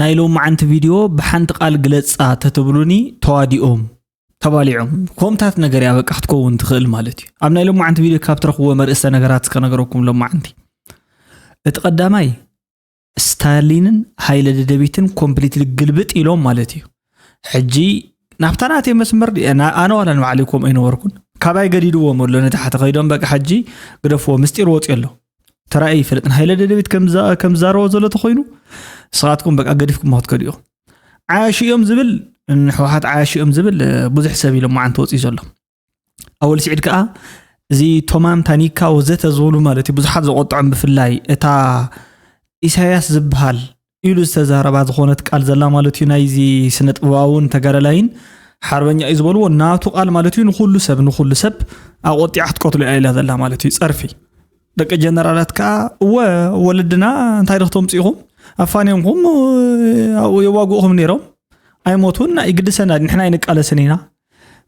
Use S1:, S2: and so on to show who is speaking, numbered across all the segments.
S1: ናይ ሎማዓንቲ ቪድዮ ብሓንቲ ቃል ግለጻ ተትብሉኒ ተዋዲኦም ተባሊዖም ኮምታት ነገር እያ በቃ ክትከውን ትኽእል ማለት እዩ ኣብ ናይ ሎማዓንቲ ቪድዮ ካብ ትረኽብዎ መርእሰ ነገራት እስከ ነገረኩም ሎማዓንቲ እቲ ቀዳማይ ስታሊንን ሃይለ ደደቢትን ኮምፕሊትሊ ግልብጥ ኢሎም ማለት እዩ ሕጂ ናብታ ናተይ መስመር ኣነ ዋላ ንባዕለይ ከምኡ ኣይነበርኩን ካባይ ገዲድዎም ኣሎ ንታሕቲ ከይዶም በቂ ሕጂ ግደፍዎ ምስጢር ወፂ ኣሎ ተራእየ ይፈልጥ ንሃይለ ደደቤት ከምዛረቦ ዘሎ ተኮይኑ ንስኻትኩም በቃ ገዲፍኩም ክትከዱ ኢኹም ዓያሹ እዮም ዝብል ንሕወሓት ዓያሹ እዮም ዝብል ብዙሕ ሰብ ኢሎም መዓንቲ ወፂኡ ዘሎ ኣወል ስዒድ ከዓ እዚ ቶማን ታኒካ ወዘተ ዝብሉ ማለት እዩ ብዙሓት ዘቆጥዖም ብፍላይ እታ ኢሳያስ ዝበሃል ኢሉ ዝተዛረባ ዝኾነት ቃል ዘላ ማለት እዩ ናይዚ ስነ ጥበባውን ተጋዳላይን ሓርበኛ እዩ ዝበልዎ ናቱ ቃል ማለት እዩ ንኩሉ ሰብ ንኩሉ ሰብ ኣቆጢዓ ክትቀትሎ እያ ኢላ ዘላ ማለት እዩ ፀርፊ ደቂ ጀነራላት ከዓ እወ ወለድና እንታይ ድክተምፅ ኢኹም ኣፋንዮምኩም ኣብኡ የዋግኡኹም ነይሮም ኣይሞቱን ኣይግድሰና ንሕና ኣይንቃለስን ኢና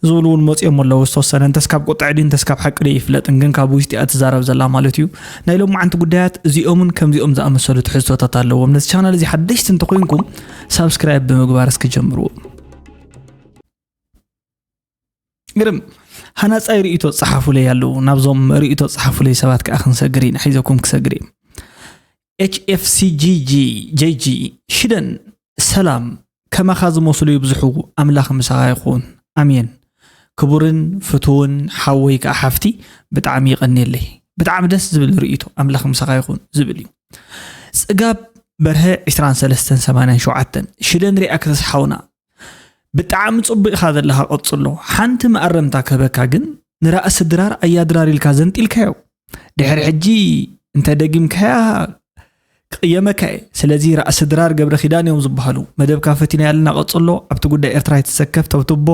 S1: ዝብሉ እውን መፂኦም ኣለዉ ዝተወሰነ እንተስ ካብ ቁጥዐ ድዩ እንተስ ካብ ሓቂ ድዩ ኣይፍለጥን ግን ካብ ውሽጢ እያ ትዛረብ ዘላ ማለት እዩ ናይ ሎማዓንቲ ጉዳያት እዚኦምን ከምዚኦም ዝኣመሰሉ ትሕዝቶታት ኣለዎም ነዚ ቻናል እዚ ሓደሽቲ እንተኮይንኩም ሳብስክራይብ ብምግባር እስኪ ጀምርዎ ግርም ሃናፃይ ርእቶ ፀሓፉለይ ኣለዉ ናብዞም ርእቶ ፀሓፉለይ ሰባት ከዓ ክንሰግር ኢና ሒዘኩም ክሰግር እዩ HFCGGJG ሽደን ሰላም ከማኻ ዝመስሉ ይብዝሑ ኣምላኽ ምሳኻ ይኹን ኣሜን ክቡርን ፍትውን ሓወይ ከዓ ሓፍቲ ብጣዕሚ ይቐኒየለይ ብጣዕሚ ደስ ዝብል ርእይቶ ኣምላኽ ምሳኻ ይኹን ዝብል እዩ ፅጋብ በርሀ 23 87 ሽደን ሪኣክተስ ሓውና ብጣዕሚ ጽቡቅ ኢኻ ዘለኻ ቀጽሎ ሓንቲ መኣረምታ ክህበካ ግን ንራእሲ ድራር ኣያ ድራር ኢልካ ዘንጢልካዮ ድሕሪ ሕጂ እንተ ደጊምካያ ክቕየመካ እየ ስለዚ ራእሲ ድራር ገብረ ኪዳን እዮም ዝበሃሉ መደብካ ፈቲና ያለና ቀጽሎ ኣብቲ ጉዳይ ኤርትራ የተሰከፍ ተብትቦ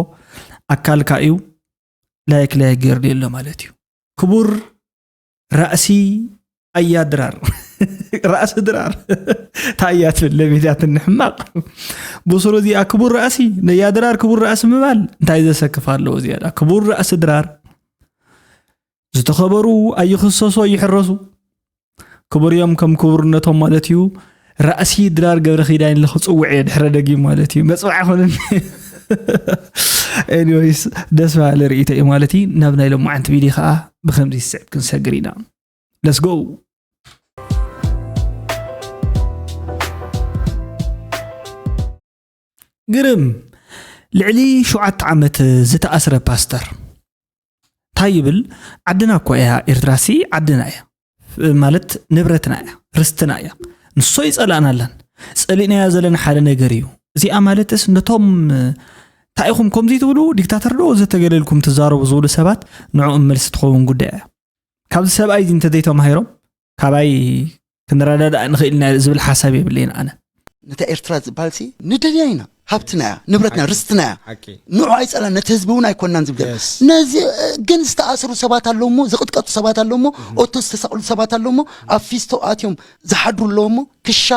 S1: ኣካልካ እዩ ላይክ ላይክ ገይርሉ ኣሎ ማለት እዩ ክቡር ራእሲ ኣያ ድራር ራእሲ ድራር ታያ ትብል ለቤትያትን ንሕማቕ ብስሩ እዚኣ ክቡር ራእሲ ነያ ድራር ክቡር ራእሲ ምባል እንታይ ዘሰክፍ ኣለዎ ዝያዳ ክቡር ራእሲ ድራር ዝተኸበሩ ኣይኽሰሱ ኣይሕረሱ ክቡር እዮም ከም ክቡርነቶም ማለት እዩ ራእሲ ድራር ገብረ ኪዳን ኢለ ክፅውዕ እየ ድሕረ ደጊም ማለት እዩ መፅዋዕ ኮነኒ ኤኒዌይስ ደስ በሃሊ ርእይቶ እዩ ማለት እዩ ናብ ናይ ሎማዓንቲ ቪድዮ ከዓ ብከምዚ ዝስዕብ ክንሰግር ኢና ለስጎ ግርም! ልዕሊ ሸውዓተ ዓመት ዝተኣስረ ፓስተር ታይ ይብል ዓድና እኮ እያ ኤርትራሲ ዓድና እያ ማለት ንብረትና እያ ርስትና እያ ንሶ ይጸላእናላን ጸሊእናያ ዘለና ሓደ ነገር እዩ እዚኣ ማለትስ ነቶም እንታይ ኢኹም ከምዚ ትብሉ ዲክታተር ዶ ዘተገለልኩም ትዛረቡ ዝብሉ ሰባት ንዕኦም መልሲ ትኸውን ጉዳይ እያ ካብዚ ሰብኣይ እዚ እንተዘይተማሂሮም ካባይ ክንረዳዳእ ንኽእል ኢና ዝብል ሓሳብ የብለይን ኣነ ነታ ኤርትራ
S2: ዝበሃል ሲ ንደልያ ኢና ሃብትና እያ ንብረትና ርስትና እያ ሓቂ ንዑ ኣይፀላ ነቲ ህዝቢ እውን ኣይኮናን ዝብል Yes. ነዚ እ፣ ግን ዝተኣስሩ ሰባት ኣለዉ እሞ ዝቕጥቀጡ ሰባት ኣለዉ እሞ ኦቶ ዝተሰቕሉ ሰባት ኣለዉ እሞ ኣብ ፊስቶ ኣትዮም ዝሓድሩ ኣለዉ እሞ ክሻ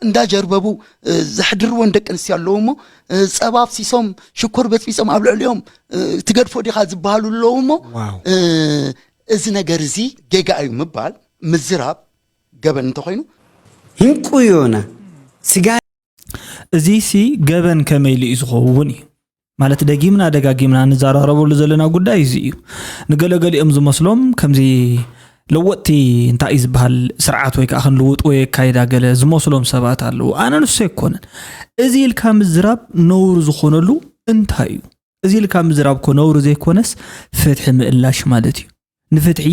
S2: እንዳጀርበቡ እ፣ ዘሕድርወን ደቂ ኣንስትዮ ኣለዉ እሞ እ፣ ፀባ ኣብሲሶም ሽኮር በፅቢፆም ኣብ ልዕሊኦም እ፣ ትገድፎ ዲኻ ዝበሃሉ ኣለዉ እሞ ዋው እ፣ እዚ ነገር እዚ ጌጋ እዩ ምባል ምዝራብ ገበን እንተኾይኑ። ህንቁ
S3: ዮና ስጋ።
S1: እዚሲ ገበን ከመይ ኢሉ እዩ ዝኸውን እዩ ማለት ደጊምና ደጋጊምና ንዛራረበሉ ዘለና ጉዳይ እዚ እዩ ንገለገሊኦም ዝመስሎም ከምዚ ለወጥቲ እንታይ እዩ ዝበሃል ስርዓት ወይ ከዓ ክንልውጥ ወይ ኣካይዳ ገለ ዝመስሎም ሰባት ኣለዉ ኣነ ንሱ ኣይኮነን እዚ ኢልካ ምዝራብ ነውሪ ዝኾነሉ እንታይ እዩ እዚ ኢልካ ምዝራብ እኮ ነውሪ ዘይኮነስ ፍትሒ ምእላሽ ማለት እዩ ንፍትሒ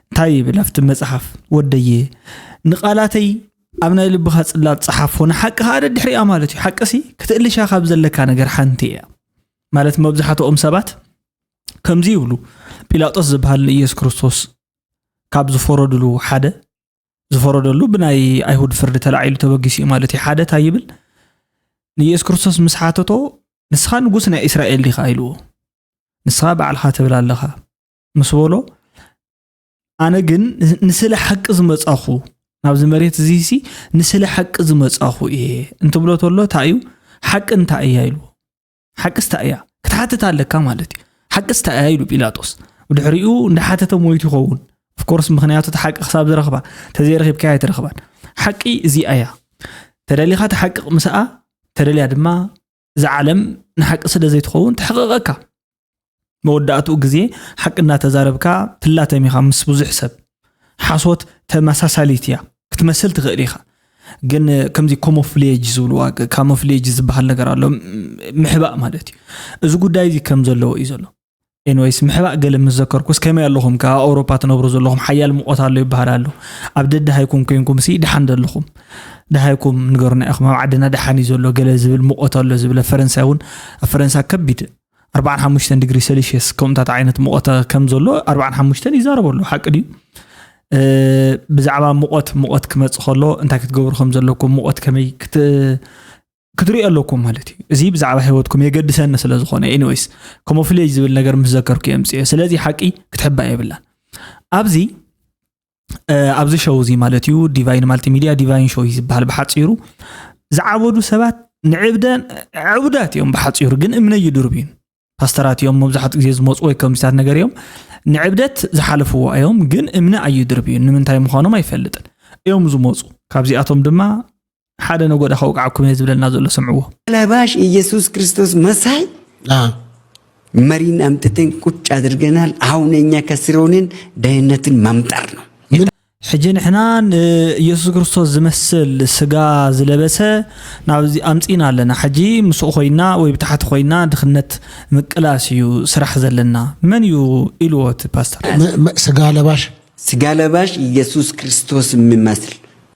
S1: እንታይ ይብል ኣብቲ መጽሓፍ ወደየ ንቓላተይ ኣብ ናይ ልብኻ ጽላት ጽሓፎ ንሓቂ ከዓ ደድሕሪያ ማለት እዩ ሓቂ ሲ ክትእልሻ ካብ ዘለካ ነገር ሓንቲ እያ ማለት መብዛሕትኦም ሰባት ከምዚ ይብሉ ጲላጦስ ዝበሃል ንኢየሱስ ክርስቶስ ካብ ዝፈረድሉ ሓደ ዝፈረደሉ ብናይ ኣይሁድ ፍርዲ ተላዒሉ ተበጊሱ እዩ ማለት እዩ ሓደ እንታይ ይብል ንየሱስ ክርስቶስ ምስ ሓተቶ ንስኻ ንጉስ ናይ እስራኤል ዲኻ ኢልዎ ንስኻ ባዕልኻ ትብል ኣለኻ ምስ በሎ ኣነ ግን ንስለ ሓቂ ዝመፃኹ ናብዚ መሬት እዚ ሲ ንስለ ሓቂ ዝመፃኹ እየ እንትብሎ ተሎ እንታይ እዩ ሓቂ እንታይ እያ ኢልዎ ሓቅስ እንታይ እያ ክትሓትት ኣለካ ማለት እዩ ሓቅስ እንታይ እያ ኢሉ ጲላጦስ ብድሕሪኡ እንዳሓተተ ሞይቱ ይኸውን ኦፍኮርስ ምክንያቱ እቲ ሓቂ ክሳብ ዝረኽባ ተዘይረኺብካ ኣይትረኽባን ሓቂ እዚኣ እያ ተደሊኻ ተሓቅቕ ምስኣ ተደልያ ድማ እዛ ዓለም ንሓቂ ስለ ዘይትኸውን ተሕቕቐካ መወዳእትኡ ግዜ ሓቂ እናተዛረብካ ትላተም ኢኻ ምስ ብዙሕ ሰብ። ሓሶት ተመሳሳሊት እያ። ክትመስል ትኽእል ኢኻ። ግን ከምዚ ኮሞፍሌጅ ዝብልዋ ካሞፍሌጅ ዝበሃል ነገር ኣሎ ምሕባእ ማለት እዩ እዚ ጉዳይ እዚ ከም ዘለዎ እዩ ዘሎ ኤንወይስ ምሕባእ ገለ ምስ ዘከርኩስ ከመይ ኣለኹም ከዓ ኣውሮፓ ትነብሩ ዘለኹም ሓያል ሙቆት ኣሎ ይበሃል ኣሎ ኣብ ደድሃይኩም ኮንኩም ሲ ድሓን ዘለኹም ድሃይኩም ንገሩና ኢኹም ኣብ ዓድና ድሓን እዩ ዘሎ ገለ ዝብል ሙቆት ኣሎ ዝብለ ፈረንሳይ እውን ኣብ ፈረንሳ ከቢድ 45 ዲግሪ ሰልሽስ ከምኡታት ዓይነት ሙቐት ከም ዘሎ 45 ይዛረበ ኣሎ ሓቂ ድዩ ብዛዕባ ሙቐት ሙቐት ክመፅእ ከሎ እንታይ ክትገብሩ ከም ዘለኩም ሙቐት ከመይ ክትሪኦ ኣለኩም ማለት እዩ እዚ ብዛዕባ ሂወትኩም የገድሰኒ ስለ ዝኾነ ኤኒወይስ ከምኡ ፍለይ ዝብል ነገር ምስ ዘከርኩ የምፅኦ ስለዚ ሓቂ ክትሕባ የብላን ኣብዚ ኣብዚ ሸው እዚ ማለት እዩ ዲቫይን ማልቲ ሚድያ ዲቫይን ሾው እዩ ዝበሃል ብሓፂሩ ዝዓበዱ ሰባት ንዕብደ ዕቡዳት እዮም ብሓፂሩ ግን እምነ ይድርብ እዩ ፓስተራት እዮም መብዛሕትኡ ግዜ ዝመፁ ወይ ከምዚታት ነገር እዮም ንዕብደት ዝሓለፍዎ እዮም ግን እምነ ኣዩድርብ እዩ ንምንታይ ምዃኖም ኣይፈልጥን እዮም ዝመፁ ካብዚኣቶም ድማ ሓደ ነጎዳ ከውቃዓኩም እየ ዝብለና ዘሎ ሰምዕዎ ለባሽ ኢየሱስ
S3: ክርስቶስ መሳይ መሪን ኣምጥተን ቁጭ ኣድርገናል። አሁን እኛ ከስረውንን ደህንነትን መምጠር ነው። ሕጂ
S1: ንሕና ንኢየሱስ ክርስቶስ ዝመስል ስጋ ዝለበሰ ናብዚ ኣምፂና ኣለና። ሕጂ ምስኡ ኮይና ወይ ብታሕቲ ኮይና ድኽነት ምቅላስ እዩ ስራሕ ዘለና። መን እዩ ኢልዎ እቲ ፓስተር? ስጋ ለባሽ
S3: ስጋ ለባሽ ኢየሱስ ክርስቶስ የሚመስል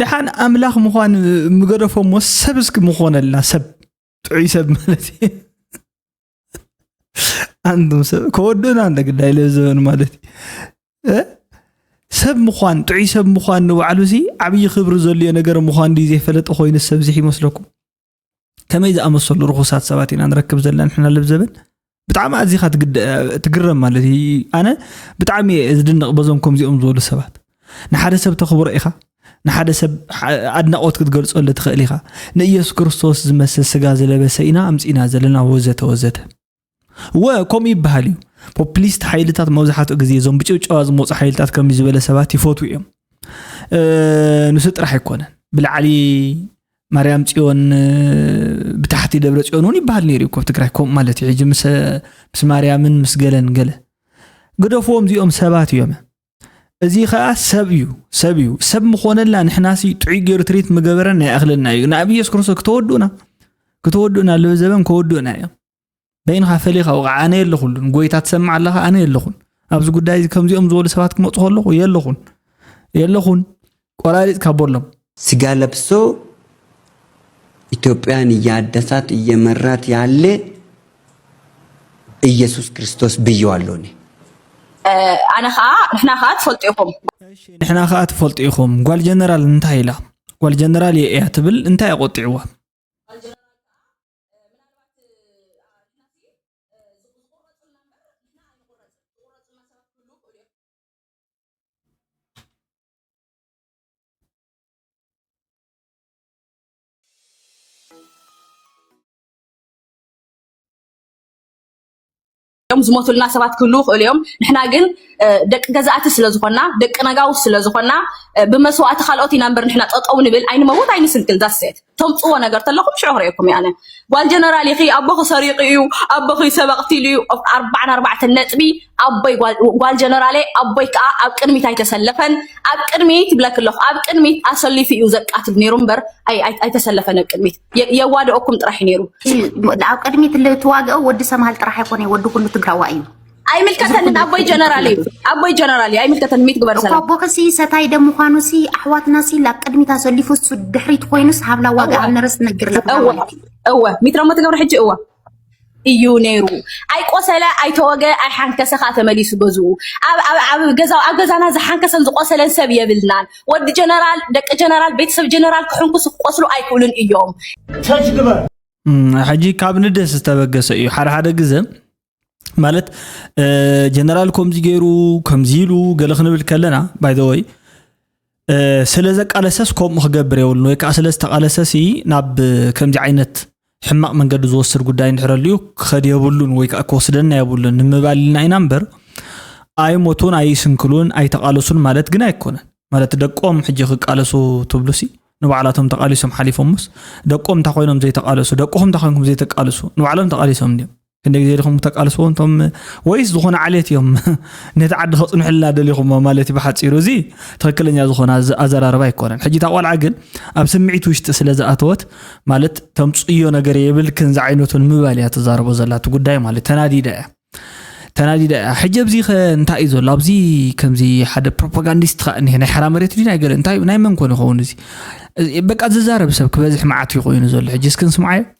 S1: ደሓን ኣምላኽ ምዃን ምገደፎሞ ሰብ እስኪ ምኾነልና ሰብ ጥዑይ ሰብ ማለት እዩ ኣንቱም ሰብ ከወድኡና እንተ ግዳይ ለዘበን ማለት እዩ እ? ሰብ ምዃን ጥዑይ ሰብ ምዃን ንባዕሉ ሲ ዓብዪ ክብሪ ዘልዮ ነገር ምዃን ድዩ ዘይፈለጠ ኮይኑ ሰብ ዝሕ ይመስለኩም ከመይ ዝኣመሰሉ ርኹሳት ሰባት ኢና ንረክብ ዘለና ንሕና ልብዘበን ብጣዕሚ ኣዚኻ ትግረም ማለት እዩ ኣነ ብጣዕሚ እየ ዝድንቕ በዞም ከምዚኦም ዝበሉ ሰባት ንሓደ ሰብ ተኽብሮ ኢኻ ንሓደ ሰብ ኣድናቖት ክትገልጸሉ ትኽእል ኢኻ ንኢየሱስ ክርስቶስ ዝመስል ስጋ ዝለበሰ ኢና ኣምፂና ዘለና ወዘተ ወዘተ ወ ከምኡ ይበሃል እዩ ፖፕሊስት ሓይልታት መብዛሕትኡ ግዜ እዞም ብጭብጨባ ዝመፁ ሓይልታት ከም ዝበለ ሰባት ይፈትዉ እዮም ንሱ ጥራሕ ኣይኮነን ብላዕሊ ማርያም ፅዮን ብታሕቲ ደብረ ፅዮን እውን ይበሃል ነይሩ ኮብ ትግራይ ከምኡ ማለት እዩ ሕጂ ምስ ማርያምን ምስ ገለን ገለ ግደፍዎም እዚኦም ሰባት እዮም እዚ ከዓ ሰብ እዩ ሰብ እዩ ሰብ ምኾነልና ንሕናሲ ጥዑይ ገይሩ ትሪት ምገበረና ይኣኽለና እዩ ናብ ኢየሱስ ክርስቶስ ክተወድኡና ክተወድኡና ኣለዉ ዘበን ከወድኡና እዮም በይንኻ ፈሊኻ ወቕዓ ኣነ የለኹሉን ጎይታ ትሰምዕ ኣለኻ ኣነ የለኹን ኣብዚ ጉዳይ እዚ ከምዚኦም ዝበሉ ሰባት ክመፁ ከለኹ የለኹን የለኹን ቆራሪጽካ ቦሎም። ስጋ ለብሶ
S3: ኢትዮጵያን እያደሳት እየመራት ያለ እየሱስ ክርስቶስ ብየዋለሁ እኔ። ኣነ
S4: ከዓ ንሕና ከዓ ትፈልጡ ኢኹም እሺ ንሕና ከዓ
S1: ትፈልጡ ኢኹም ጓል ጀነራል እንታይ ኢላ ጓል ጀነራል እየ እያ ትብል እንታይ ኣቆጢዕዋ
S4: እዮም ዝሞቱልና ሰባት ክህልዉ ይኽእሉ እዮም ንሕና ግን ደቂ ገዛእቲ ስለ ዝኾና ደቂ ነጋውስ ስለ ዝኾና ብመስዋእቲ ካልኦት ኢና እምበር ንሕና ጠጠው ንብል ኣይንመውት ኣይንስንክል ዳሴት ተምፅዎ ነገር ተለኹም ሽዑ ክርእየኩም እየ ኣነ ጓል ጀነራል ኢኺ ኣቦኺ ሰሪቑ እዩ ኣቦኺ ሰብ ኣቕቲሉ እዩ ኣርባዕን ኣርባዕተን ነጥቢ ኣቦይ ጓል- ጓል ጀነራለ ኣቦይ ከዓ ኣብ ቅድሚት ኣይተሰለፈን ኣብ ቅድሚት ብለክ ኣለኹ ኣብ ቅድሚት ኣሰሊፉ እዩ ዘቃትል ነይሩ እምበር ኣይ- ኣይ- ኣይተሰለፈን ኣብ ቅድሚት የ- የዋደኦኩም ጥራሕ እዩ ነይሩ እቲ ኣብ ቅድሚት
S5: እትዋግኦ ወዲ ሰምሃል ጥራሕ ኣይኮነ ወዲ ኩሉ ትግራዋ እዩ ኣይምልከተንን
S4: ኣቦይ ጀነራል እዩ ኣቦይ ጀነራል እዩ ኣይምልከተን ሚት ግበር ሰላም እኳ ቦኽሲ ሰታይ ደም
S5: ምዃኑ ሲ ኣሕዋትና ሲ ላብ ቅድሚት ኣሰሊፉ እሱ ድሕሪት ኮይኑስ ሃብላ ዋጋ ኣብ ነረስ ነግር እወ እወ
S4: ሚትረሞ ትገብረ ሕጂ እወ እዩ ነይሩ ኣይቆሰለ ኣይተወገ ኣይሓንከሰ ከዓ ተመሊሱ ገዝኡ ኣብ ገዛና ዝሓንከሰን ዝቆሰለን ሰብ የብልናን ወዲ ጀነራል ደቂ ጀነራል ቤተሰብ ጀነራል ክሕንኩስ ክቆስሉ ኣይክእሉን እዮም
S1: ሕጂ ካብ ንደስ ዝተበገሰ እዩ ሓደ ሓደ ግዘ ማለት ጀነራል ከምዚ ገይሩ ከምዚ ኢሉ ገለ ክንብል ከለና ባይ ዘ ወይ ስለ ዘቃለሰስ ከምኡ ክገብር የብሉን ወይ ከዓ ስለ ዝተቃለሰሲ ናብ ከምዚ ዓይነት ሕማቕ መንገዲ ዝወስድ ጉዳይ እንድሕር ኣልዩ ክኸድ የብሉን ወይ ከዓ ክወስደና የብሉን ንምባል ኢልና ኢና እምበር ኣይሞቱን ኣይስንክሉን ኣይተቃለሱን ማለት ግን ኣይኮነን ማለት ደቆም ሕጂ ክቃለሱ ትብሉሲ ንባዕላቶም ተቃሊሶም ሓሊፎምስ ደቆም እንታይ ኮይኖም ዘይተቃለሱ ደቅኹም እንታይ ኮይንኩም ዘይተቃልሱ ንባዕሎም ተቃሊሶም እንዲዮም ክንደይ ግዜ ዲኹም ተቃልስዎ እንቶም ወይስ ዝኾነ ዓሌት እዮም ነቲ ዓዲ ከፅንሑልና ደሊኹሞ ማለት እዩ ብሓፂሩ እዚ ትክክለኛ ዝኾነ ኣዘራርባ ኣይኮነን ሕጂ እታ ቆልዓ ግን ኣብ ስምዒት ውሽጢ ስለ ዝኣተወት ማለት ተምፅዮ ነገር የብልክን ዝዓይነቱን ምባል እያ ትዛረቦ ዘላ እቲ ጉዳይ ማለት ተናዲዳ እያ ተናዲዳ እያ ሕጂ ኣብዚ ከ እንታይ እዩ ዘሎ ኣብዚ ከምዚ ሓደ ፕሮፓጋንዲስት ከዓ እኒሀ ናይ ሓራ መሬት ድዩ ናይ ገለ እንታይ ናይ መን ኮን ይኸውን እዚ በቃ ዝዛረብ ሰብ ክበዝሕ መዓት ይኮይኑ ዘሎ ሕጂ እስክንስምዓዮ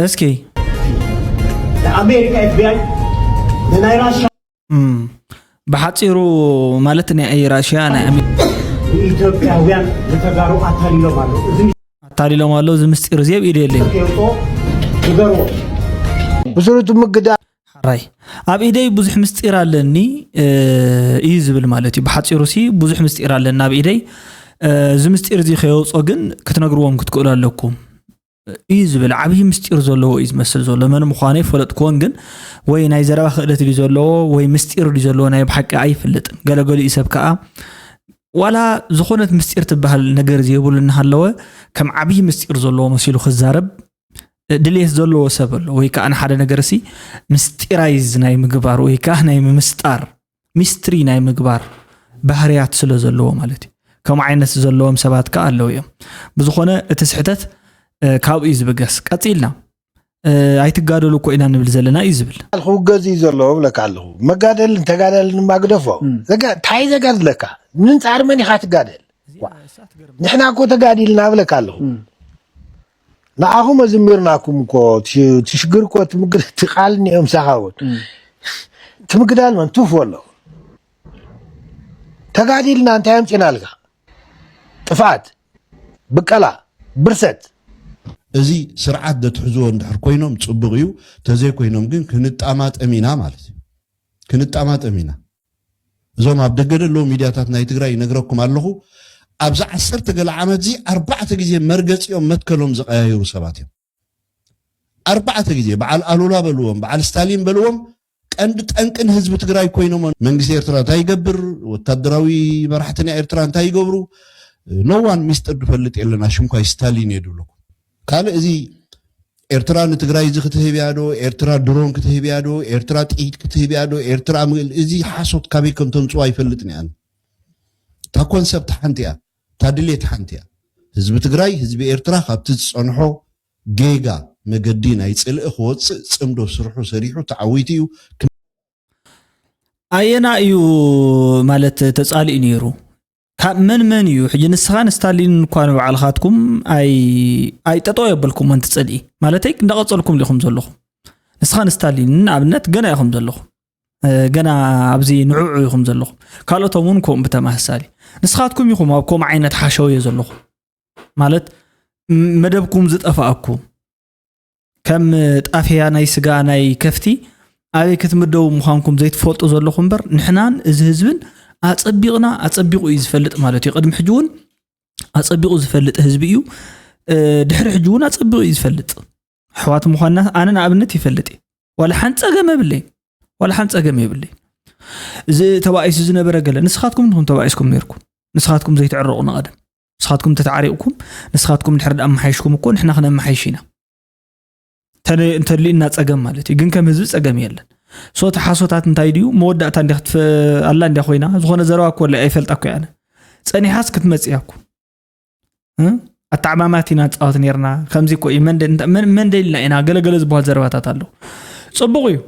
S1: እስኪ ኣሜሪካ
S6: ኤፍቢኣይ ንናይ ራሻ
S1: ብሓፂሩ ማለት ናይ ራሽያ ናይ ኢትዮጵያውያን
S6: ንተጋሩ ኣታሊሎም ኣሎ ኣታሊሎም ኣሎ እዚ ምስጢር እዚ ኣብ ኢደ የለይ ይገርዎ
S7: ብስሩቱ ምግዳ ራይ
S1: ኣብ ኢደይ ብዙሕ ምስጢር ኣለኒ እዩ ዝብል ማለት እዩ ብሓፂሩ ሲ ብዙሕ ምስጢር ኣለኒ ኣብ ኢደይ እዚ ምስጢር እዚ ከየውፆ ግን ክትነግርዎም ክትክእሉ ኣለኩም እዩ ዝብል ዓብዪ ምስጢር ዘለዎ እዩ ዝመስል ዘሎ መን ምዃኑ ኣይፈለጥክዎን ግን ወይ ናይ ዘረባ ክእለት ድዩ ዘለዎ ወይ ምስጢር ድዩ ዘለዎ ናይ ብሓቂ ኣይፍልጥን ገለገሊኡ ሰብ ከዓ ዋላ ዝኾነት ምስጢር ትበሃል ነገር ዘይብሉ እናሃለወ ከም ዓብዪ ምስጢር ዘለዎ መሲሉ ክዛረብ ድሌት ዘለዎ ሰብ ኣሎ ወይ ከዓ ንሓደ ነገር ሲ ምስጢራይዝ ናይ ምግባር ወይ ከዓ ናይ ምምስጣር ሚስትሪ ናይ ምግባር ባህርያት ስለ ዘለዎ ማለት እዩ። ከምኡ ዓይነት ዘለዎም ሰባት ከ ኣለዉ እዮም። ብዝኾነ እቲ ስሕተት ካብኡ እዩ ዝብገስ። ቀጺልና ኣይትጋደሉ እኮ ኢና ንብል ዘለና እዩ ዝብል። ክውገዝ እዩ ዘለዎ
S7: ብለካ ኣለኹ። መጋደልን ተጋዳልን ድማ ግደፎ። እንታይ ዘጋድለካ ምንጻር መን ኢኻ ትጋደል? ንሕና እኮ ተጋዲልና ብለካ ኣለኹ። ንዓኹም ኣዝሚርናኩም እኮ ትሽግር እኮ ትቃል እኒኦ ምሳኻ እውን ትምግዳል መን ቱፍ ወሎ ተጋዲልና እንታይ ኣምፂናልካ ጥፍኣት ብቀላ ብርሰት
S8: እዚ ስርዓት ዘትሕዝዎ እንድሕር ኮይኖም ፅቡቕ እዩ ተዘይኮይኖም ግን ክንጣማጠም ኢና ማለት እዩ ክንጣማጠም ኢና እዞም ኣብ ደገ ደለዉ ሚድያታት ናይ ትግራይ ይነግረኩም ኣለኹ ኣብዚ ዓሰርተ ገለ ዓመት እዚ ኣርባዕተ ግዜ መርገፂኦም መትከሎም ዝቀያየሩ ሰባት እዮም ኣርባዕተ ግዜ በዓል ኣሉላ በልዎም በዓል ስታሊን በልዎም ቀንዲ ጠንቅን ህዝቢ ትግራይ ኮይኖም መንግስቲ ኤርትራ እንታይ ይገብር ወታደራዊ መራሕትና ኤርትራ እንታይ ይገብሩ ኖዋን ሚስጥር ድፈልጥ የለና ሽምኳይ ስታሊን እየ ድብለኩም ካልእ እዚ ኤርትራ ንትግራይ እዚ ክትህብ እያ ዶ ኤርትራ ድሮን ክትህብ እያ ዶ ኤርትራ ጥይት ክትህብ እያ ዶ ኤርትራ ምል እዚ ሓሶት ካበይ ከም ተምፅኦ ኣይፈልጥን እያን እታ ኮንሰፕት ሓንቲ እያ እታ ድሌት ሓንቲ እያ ህዝቢ ትግራይ ህዝቢ ኤርትራ ካብቲ ዝፀንሖ ጌጋ መገዲ ናይ ፅልኢ ክወፅእ ፅምዶ ስርሑ ሰሪሑ ተዓዊቱ እዩ
S1: ኣየና እዩ ማለት ተፃሊኡ ነይሩ ካብ መን መን እዩ ሕጂ ንስኻን ስታሊንን እኳ ንባዕልኻትኩም ኣይ ጠጠው የበልኩም ኣንቲ ፅልኢ ማለተይ እንዳቐፀልኩም ሊኹም ዘለኹም ንስኻን ስታሊንን ንኣብነት ገና ኢኹም ዘለኹም ገና ኣብዚ ንዕዑ ኢኹም ዘለኹም ካልኦቶም እውን ከምኡ ብተመሳሳሊ ንስኻትኩም ኢኹም ኣብ ከምኡ ዓይነት ሓሸውየ ዘለኹም ማለት መደብኩም ዝጠፋኣኩም ከም ጣፍያ ናይ ስጋ ናይ ከፍቲ ኣበይ ክትምደቡ ምዃንኩም ዘይትፈልጡ ዘለኹም እምበር ንሕናን እዚ ህዝብን ኣፀቢቕና ኣፀቢቑ እዩ ዝፈልጥ ማለት እዩ ቅድሚ ሕጂ እውን ኣፀቢቑ ዝፈልጥ ህዝቢ እዩ ድሕሪ ሕጂ እውን ኣፀቢቑ እዩ ዝፈልጥ ኣሕዋት ምዃንና ኣነ ንኣብነት ይፈልጥ እዩ ዋላ ሓንቲ ፀገም የብለይ ዋላ ሓንቲ ፀገም የብለይ እዚ ተባኢሱ ዝነበረ ገለ ንስኻትኩም ንኹም ተባኢስኩም ነርኩም ንስኻትኩም ዘይትዕረቑ ንቐደም ንስኻትኩም ተተዓሪቕኩም ንስኻትኩም እንድሕር ደኣ ኣመሓይሽኩም እኮ ንሕና ክነመሓይሽ ኢና እንተድልዩና ፀገም ማለት እዩ ግን ከም ህዝቢ ፀገም የለን ሶ እቲ ሓሶታት እንታይ ድዩ መወዳእታ እንዲ ኣላ እንዲያ ኮይና ዝኾነ ዘረባ እኮ ኣይፈልጣ እኮ ያነ ፀኒሓስ ክትመፅእ እያ እኮ ኣተዓማማት ኢና ንፃወት ነርና ከምዚ እኮ እዩ መን ደልና ኢና ገለገለ ዝበሃል ዘረባታት ኣለዉ ፅቡቕ እዩ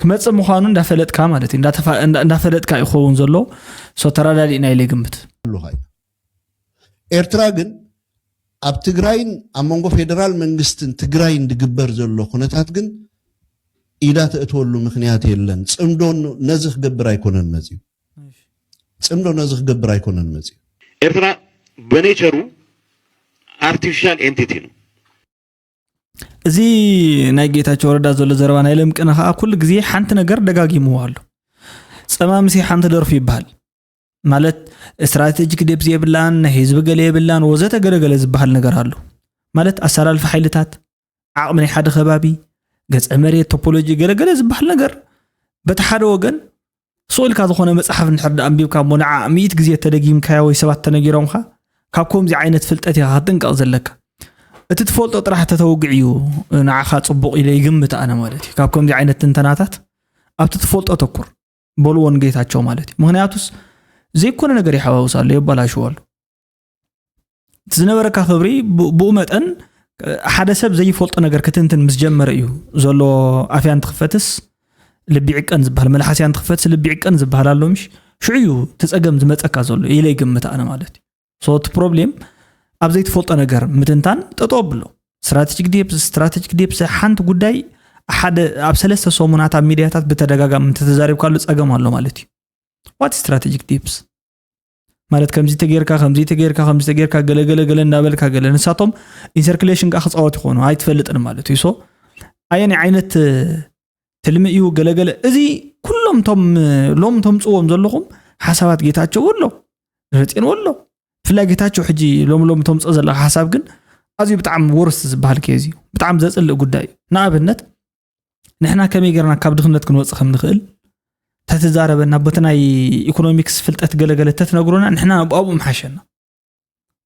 S1: ክመፅእ ምዃኑ እንዳፈለጥካ ማለት እዩ እንዳፈለጥካ እዩ ክኸውን ዘሎ ሶ ተረዳዲእና ኢለ ግምት
S8: ኤርትራ ግን ኣብ ትግራይን ኣብ መንጎ ፌደራል መንግስትን ትግራይን ዝግበር ዘሎ ኩነታት ግን ኢዳ ተእትወሉ ምክንያት የለን ፅምዶ ነዚ ክገብር ኣይኮነን መፅዩ ፅምዶ ነዚ ክገብር ኣይኮነን መፅዩ ኤርትራ
S9: በኔቸሩ ኣርቲፊሻል ኤንቲቲ ነው
S1: እዚ ናይ ጌታቸው ረዳ ዘሎ ዘረባ ናይ ለምቅነ ከዓ ኩሉ ግዜ ሓንቲ ነገር ደጋጊምዎ ኣሎ ፀማምሲ ሓንቲ ደርፉ ይበሃል ማለት ስትራቴጂክ ደብዝ የብላን ናይ ህዝቢ ገለ የብላን ወዘተ ገለገለ ዝበሃል ነገር ኣሎ ማለት ኣሰላልፊ ሓይልታት ዓቕሚ ናይ ሓደ ከባቢ ገፀ መሬት ቶፖሎጂ ገለገለ ዝበሃል ነገር በቲ ሓደ ወገን ስቕ ኢልካ ዝኾነ መጽሓፍ እንድሕር ደኣ ኣንቢብካ እሞ ንዓኣ ሚእቲ ግዜ ተደጊምካያ ወይ ሰባት ተነጊሮምካ ካብ ከምዚ ዓይነት ፍልጠት ኢኻ ክትጥንቀቕ ዘለካ እቲ ትፈልጦ ጥራሕ ተተውግዕ እዩ ንዓኻ ጽቡቕ ኢለ ይግምት ኣነ ማለት እዩ ካብ ከምዚ ዓይነት ትንተናታት ኣብቲ ትፈልጦ ተኩር በልዎ ንጌታቸው ማለት እዩ ምክንያቱስ ዘይኮነ ነገር ይሓዋውስ ኣሎ የባላሽዎ ኣሎ እቲ ዝነበረካ ክብሪ ብኡ መጠን ሓደ ሰብ ዘይፈልጦ ነገር ክትንትን ምስ ጀመረ እዩ ዘሎ ኣፍያ እንትኽፈትስ ልቢ ዕቀን ዝበሃል መልሓስያ እንትኽፈትስ ልቢ ዕቀን ዝበሃል ኣሎ ምሽ ሽዑ እዩ ትፀገም ዝመፀካ ዘሎ ኢለ ይግምት ኣነ ማለት እዩ ሶቲ ፕሮብሌም ኣብ ዘይትፈልጦ ነገር ምትንታን ጠጦ ኣብሎ ስትራቴጂክ ዴፕስ ስትራቴጂክ ዴፕስ ሓንቲ ጉዳይ ሓደ ኣብ ሰለስተ ሰሙናት ኣብ ሚድያታት ብተደጋጋሚ እንተተዛሪብካሉ ፀገም ኣሎ ማለት እዩ ዋት ስትራቴጂክ ዴፕስ ማለት ከምዚ ተጌርካ ከምዚ ተጌርካ ከምዚ ተጌርካ ገለ ገለ ገለ እናበልካ ገለ ንሳቶም ኢንሰርክሌሽን ከዓ ክፃወት ይኮኑ ኣይትፈልጥን ማለት እዩ ሶ ኣየናይ ዓይነት ትልሚ እዩ ገለገለ እዚ ኩሎም ቶም ሎም ተምፅዎም ዘለኹም ሓሳባት ጌታቸው ኣሎ ረፅን ኣሎ ብፍላይ ጌታቸው ሕጂ ሎም ሎም ተምፅኦ ዘለካ ሓሳብ ግን ኣዝዩ ብጣዕሚ ወርስ ዝበሃል ኬዝ እዩ ብጣዕሚ ዘፅልእ ጉዳይ እዩ ንኣብነት ንሕና ከመይ ጌርና ካብ ድኽነት ክንወፅ ከም ንኽእል ተትዛረበና ቦቲ ናይ ኢኮኖሚክስ ፍልጠት ገለገለ ተትነግሩና ንሕና ኣብኡ ምሓሸና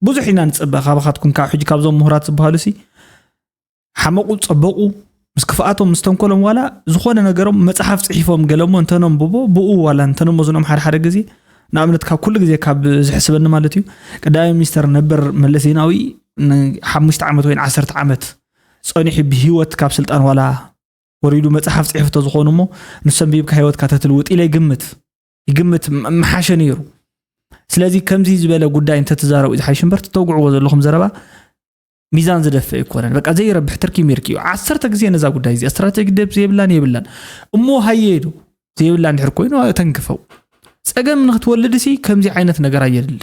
S1: ብዙሕ ኢና ንፅበ ካባኻትኩም ካብ ሕጂ ካብዞም ምሁራት ዝበሃሉ ሲ ሓመቑ ፀበቑ ምስ ክፍኣቶም ምስ ተንኮሎም ዋላ ዝኾነ ነገሮም መፅሓፍ ፅሒፎም ገለሞ እንተነንብቦ ብኡ ዋላ እንተነመዝኖም ሓደ ሓደ ግዜ ንኣብነት ካብ ኩሉ ግዜ ካብ ዝሕስበኒ ማለት እዩ ቀዳማይ ሚኒስተር ነበር መለስ ዜናዊ ንሓሙሽተ ዓመት ወይ ንዓሰርተ ዓመት ጸኒሑ ብሂወት ካብ ስልጣን ዋላ ወሪዱ መጽሓፍ ጽሒፉ ተዝኾኑ እሞ ንሱ ኣንቢብካ ሂወትካ ተትልውጥ ኢለ ይግምት ይግምት ምሓሸ ነይሩ ስለዚ ከምዚ ዝበለ ጉዳይ እንተትዛረቡ ዝሓይሽ እምበር ትተውግዕዎ ዘለኹም ዘረባ ሚዛን ዝደፍእ ኣይኮነን በቃ ዘይረብሕ ትርኪ ሚርኪ እዩ ዓሰርተ ግዜ ነዛ ጉዳይ እዚኣ ስትራቴጂ ደብ ዘይብላን የብላን እሞ ሃየዱ ዘይብላ እንድሕር ኮይኑ ተንክፈው ፀገም ንክትወልድ ሲ ከምዚ ዓይነት ነገር ኣየድልን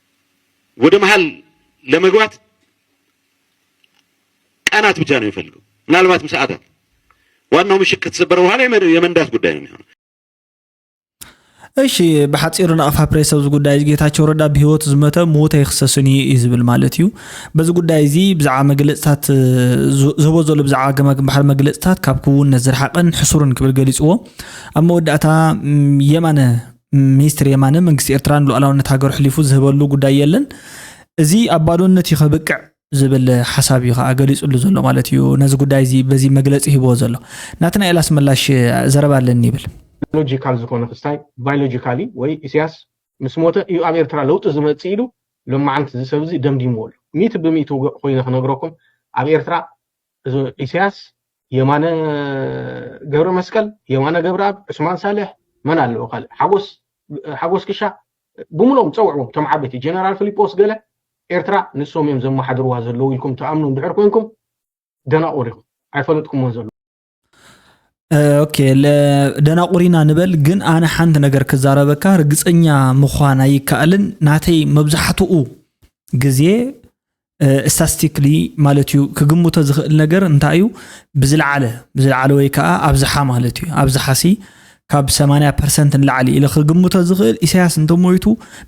S9: ወደ መሃል ለመግባት ቀናት ብቻ ነው የሚፈልገው፣ ምናልባትም ሰዓታት። ዋናው ምሽግ ከተሰበረ በኋላ የመንዳት ጉዳይ ነው የሚሆነው።
S1: እሺ ብሓፂሩ ናቕፋ ፕሬስ ኣብዚ ጉዳይ እዚ ጌታቸው ረዳ ብሂወት ዝመተ ምዉት ኣይክሰስን እዩ እዩ ዝብል ማለት እዩ በዚ ጉዳይ እዚ ብዛዕባ መግለፅታት ዝህቦ ዘሎ ብዛዕባ ገማግም ባሕሪ መግለፅታት ካብ ክውነት ዝረሓቐን ሕሱርን ክብል ገሊፅዎ ኣብ መወዳእታ የማነ ሚኒስትር የማነ መንግስቲ ኤርትራ ንሉኣላውነት ሃገሩ ሕሊፉ ዝህበሉ ጉዳይ የለን እዚ ኣብ ባዶነት እዩ ከብቅዕ ዝብል ሓሳብ እዩ ከዓ ገሊፅሉ ዘሎ ማለት እዩ ነዚ ጉዳይ እዚ በዚ መግለፂ ሂብዎ ዘሎ ናትናኤል ኣስመላሽ ዘረባ ኣለኒ ይብል ሎጂካል ዝኾነ
S10: ክስታይ ባዮሎጂካሊ ወይ ኢሳያስ ምስ ሞተ እዩ ኣብ ኤርትራ ለውጢ ዝመጽእ ኢሉ ሎማዓንቲ እዚ ሰብ እዚ ደምዲምዎ ኣሎ ሚእቲ ብሚእቲ ውግዕ ኮይነ ክነግረኩም ኣብ ኤርትራ ኢሰያስ የማነ ገብረመስቀል የማነ ገብረኣብ ዑስማን ሳልሕ መን ኣለዎ ካልእ ሓጎስ ሓጎስ ክሻ ብምሎም ፀውዕዎም እቶም ዓበይቲ ጀነራል ፊሊጶስ ገለ ኤርትራ ንሶም እዮም ዘመሓድርዋ ዘለዉ ኢልኩም ትኣምኑ እንድሕር ኮንኩም ደናቑር ኢኹም ኣይፈለጥኩምዎን ዘለዉ
S1: ኦኬ ደናቑሪና ንበል ግን ኣነ ሓንቲ ነገር ክዛረበካ ርግፀኛ ምዃን ኣይከኣልን ናተይ መብዛሕትኡ ግዜ ስታስቲክሊ ማለት እዩ ክግምቶ ዝኽእል ነገር እንታይ እዩ ብዝለዓለ ብዝለዓለ ወይ ከዓ ኣብዝሓ ማለት እዩ ኣብዝሓ ሲ ካብ 80 ፐርሰንት ንላዕሊ ኢለ ክግምቶ ዝኽእል ኢሳያስ እንተሞይቱ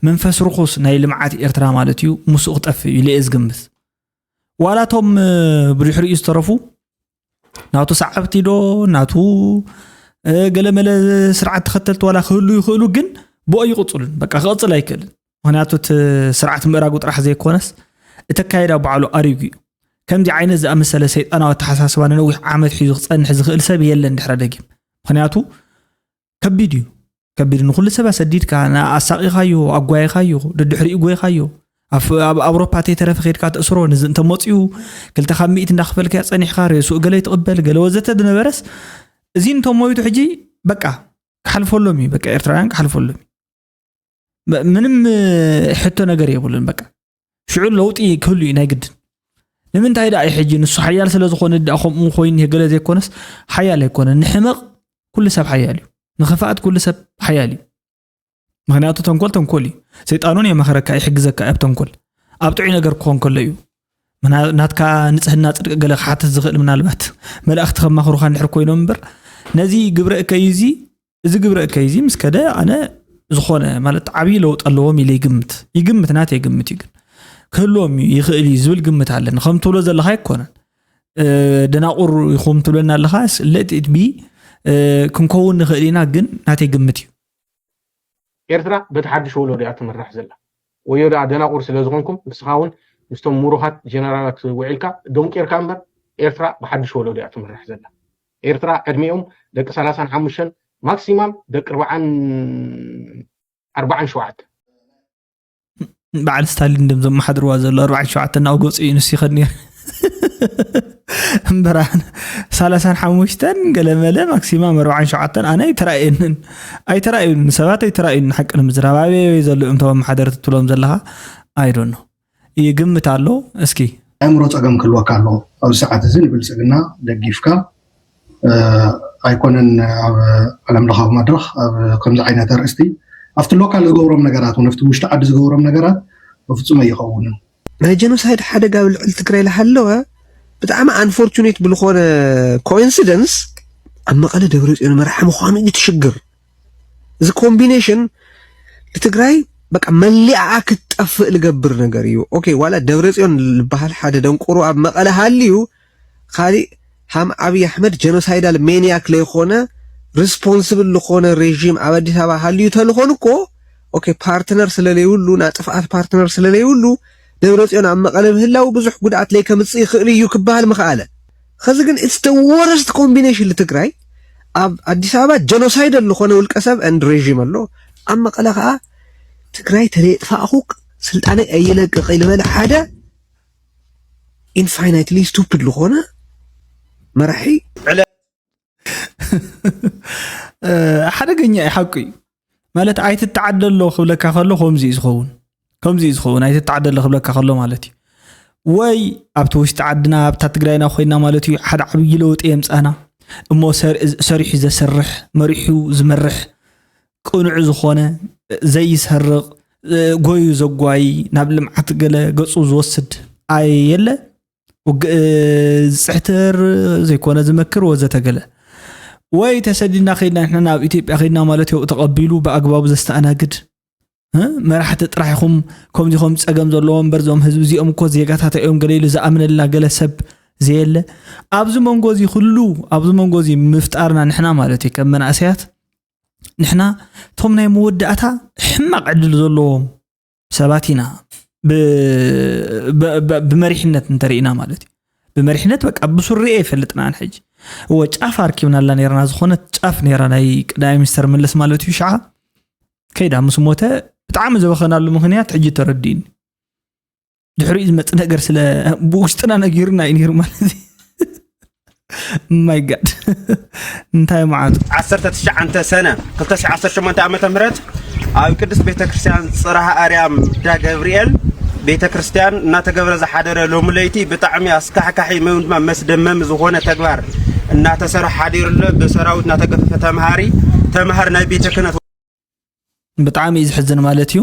S1: መንፈስ ርኹስ ናይ ልምዓት ኤርትራ ማለት እዩ ምስኡ ክጠፍእ እዩ ኢለ ዝግምት ዋላ እቶም ብድሕሪኡ ዝተረፉ ናቱ ሰዓብቲ ዶ ናቱ ገለመለ ስርዓት ተኸተልቲ ዋላ ክህሉ ይኽእሉ ግን ብኦ ይቕፅሉን በቃ ክቕፅል ኣይክእልን ምክንያቱ እቲ ስርዓት ምእራጉ ጥራሕ ዘይኮነስ እቲ ኣካይዳ ባዕሉ ኣሪጉ እዩ ከምዚ ዓይነት ዝኣመሰለ ሰይጣናዊ ኣተሓሳስባ ንነዊሕ ዓመት ሒዙ ክፀንሕ ዝኽእል ሰብ የለን ድሕረ ደጊም ምክንያቱ ከቢድ እዩ ከቢድ ንኩሉ ሰብ ኣሰዲድካ ኣሳቂኻዮ ኣጓይኻዮ ደድሕሪኡ ጎይኻዮ ኣብ ኣውሮፓ ተይተረፈ ከድካ ተእስሮ ንዚ እንተመፅኡ ክልተ ካብ ሚእት እንዳኸፈልካዮ ፀኒሕካ ርእስኡ ገለ ይትቕበል ገለ ወዘተ ዝነበረስ እዚ እንተሞይቱ ሕጂ በቃ ክሓልፈሎም እዩ በቃ ኤርትራውያን ክሓልፈሎም እዩ ምንም ሕቶ ነገር የብሉን በቃ ሽዑ ለውጢ ክህሉ እዩ ናይ ግድን ንምንታይ ደኣ እዩ ሕጂ ንሱ ሓያል ስለ ዝኾነ ደኣ ከምኡ ኮይኑ ገለ ዘይኮነስ ሓያል ኣይኮነን ንሕመቕ ኩሉ ሰብ ሓያል እዩ ንኽፍኣት ኩሉ ሰብ ሓያል እዩ ምክንያቱ ተንኮል ተንኮል እዩ ሰይጣን እውን የመኸረካ ይሕግዘካ ኣብ ተንኮል ኣብ ጥዑይ ነገር ክኾን ከሎ እዩ ናትካ ንፅህና ፅድቂ ገለ ክሓትት ዝኽእል ምናልባት መላእኽቲ ከማኽሩካ እንድሕር ኮይኖም እምበር ነዚ ግብረ እከዩ እዚ እዚ ግብረ እከይ እዚ ምስ ከደ ኣነ ዝኾነ ማለት ዓብዪ ለውጢ ኣለዎም ኢለ ይግምት ይግምት ናተይ ግምት እዩ ግን ክህልዎም እዩ ይኽእል እዩ ዝብል ግምት ኣለኒ ከም ትብሎ ዘለካ ኣይኮነን ደናቑር ይኹም ትብለና ኣለካ ለትቢ ክንከውን ንኽእል ኢና ግን ናተይ ግምት እዩ
S10: ኤርትራ በቲ ሓድሽ ወሎዶ እያ ትምራሕ ዘላ። ወዮ ደኣ ደናቑር ስለ ዝኾንኩም ንስኻ ውን ምስቶም ሙሩኻት ጀነራላት ውዒልካ ዶንቂርካ እምበር ኤርትራ ብሓድሽ ወሎዶ እያ ትምራሕ ዘላ። ኤርትራ ዕድሚኦም ደቂ ሰላሳን ሓሙሽተን ማክሲማም ደቂ ርብዓን ኣርባዓን ሸውዓተ።
S1: በዓል ስታሊን ድም ዘመሓድርዋ ዘሎ ኣርባዕን ሸውዓተን ናብ ገፁ እዩ ንስ ይኸድ ነይሩ እምበራ ሳላሳን ሓሙሽተን ገለመለ ማክሲማም ኣርባዓን ሸውዓተን ኣነ ኣይተራእየንን ኣይተራእዩን ሰባት ኣይተራእዩን ሓቂ ንምዝራብ ኣበይ ኣበይ ዘሎ እዮም ተም ሓደርቲ ትብሎም ዘለካ ኣይዶኖ ይግምት ኣሎ እስኪ ኣእምሮ ፀገም
S11: ክህልወካ ኣለዎ ኣብዚ ሰዓት እዚ ንብልፅግና ደጊፍካ ኣይኮነን ኣብ ዓለም ለኻዊ መድረኽ ኣብ ከምዚ ዓይነት ኣርእስቲ ኣብቲ ሎካል ዝገብሮም ነገራት እውን ኣብቲ ውሽጢ ዓዲ ዝገብሮም ነገራት በፍፁም ኣይኸውንን ናይ ጀኖሳይድ ሓደጋ ኣብ ልዕሊ ትግራይ ዝሃለወ ብጣዕሚ ኣንፎርቹኔት ብዝኾነ ኮኢንሲደንስ ኣብ መቐለ ደብረ ፅዮን መራሒ ምዃኑ እዩ ትሽግር እዚ ኮምቢኔሽን ንትግራይ በቃ መሊኣኣ ክትጠፍእ ዝገብር ነገር እዩ ኦኬ ዋላ ደብረ ፅዮን ዝበሃል ሓደ ደንቆሮ ኣብ መቐለ ሃልዩ ኻሊእ ሃም ኣብይ ኣሕመድ ጀኖሳይዳል ሜንያክ ለይኾነ ርስፖንስብል ልኾነ ሬዥም ኣብ ኣዲስ ኣበባ ሃልዩ ተልኾን እኮ ኦኬ ፓርትነር ስለለይብሉ ናይ ጥፍኣት ፓርትነር ስለለይብሉ ደብረፅዮን ኣብ መቐለ ምህላው ብዙሕ ጉድኣት ለይከምፅእ ይኽእል እዩ ክበሃል ምኸኣለ ኸዚ ግን ኢትስ ደ ወርስት ኮምቢኔሽን ልትግራይ ኣብ ኣዲስ ኣበባ ጀኖሳይደል ልኾነ ውልቀ ሰብ ኤንድ ሬዥም ኣሎ ኣብ መቐለ ኸዓ ትግራይ ተለየጥፋእኹ ስልጣነይ ኣይለቅቕ ኢልበለ ሓደ ኢንፋይናይትሊ ስቱፒድ ዝኾነ መራሒ
S1: ሓደገኛ እዩ ሓቁ እዩ ማለት ኣይትተዓደሎ ክብለካ ከሎ ከምዚ እዩ ዝኸውን ከምዚ እዩ ዝኸውን ኣይትተዓደሎ ክብለካ ከሎ ማለት እዩ ወይ ኣብቲ ውሽጢ ዓድና ኣብታ ትግራይና ኮይና ማለት እዩ ሓደ ዓብዪ ለውጢ የምፃና እሞ ሰሪሑ ዘሰርሕ መሪሑ ዝመርሕ ቅኑዕ ዝኾነ ዘይሰርቕ ጎዩ ዘጓይ ናብ ልምዓት ገለ ገፁ ዝወስድ ኣየለ ውግእ ዝፅሕትር ዘይኮነ ዝመክር ወዘተ ገለ ወይ ተሰዲድና ከድና ንሕና ናብ ኢትዮጵያ ከድና ማለት ዮ ተቐቢሉ ብኣግባቡ ዘስተኣናግድ መራሕቲ ጥራሕ ኢኹም ከምዚ ከም ፀገም ዘለዎ እምበር ዞም ህዝቢ እዚኦም እኮ ዜጋታት እዮም ገለ ኢሉ ዝኣምነልና ገለ ሰብ ዘየለ ኣብዚ መንጎ እዚ ኩሉ ኣብዚ መንጎ እዚ ምፍጣርና ንሕና ማለት እዩ ከም መናእሰያት ንሕና እቶም ናይ መወዳእታ ሕማቕ ዕድል ዘለዎም ሰባት ኢና ብመሪሕነት እንተርእና ማለት እዩ ብመሪሕነት በቃ ብሱሪ ኣይፈልጥናን ሕጂ እወ ጫፍ ኣርኪብናላ ነርና ዝኾነት ጫፍ ነራ ናይ ቀዳማይ ሚኒስተር መለስ ማለት እዩ ሸዓ ከይዳ ምስ ሞተ ብጣዕሚ ዘበኸናሉ ምክንያት ሕጂ ተረዲኡኒ ድሕሪኡ ዝመፅ ነገር ስለ ብውሽጥና ነጊሩና እዩ ነይሩ ማለት እዩ ማይ ጋድ እንታይ መዓቱ 19
S12: ሰነ 218 ዓ ም ኣብ ቅድስት ቤተ ክርስቲያን ፅራሃ ኣርያም ዳ ገብርኤል ቤተ ክርስቲያን እናተገብረ ዝሓደረ ሎሚ ለይቲ ብጣዕሚ ኣስካሕካሒ ወይ ድማ መስደመሚ ዝኾነ ተግባር እናተሰርሐ ሓዲሩ ኣሎ ብሰራዊት እናተገፈፈ ተምሃሪ
S1: ተምሃር ናይ
S12: ቤተ ክህነት
S1: ብጣዕሚ
S12: እዩ ዝሕዝን
S1: ማለት እዩ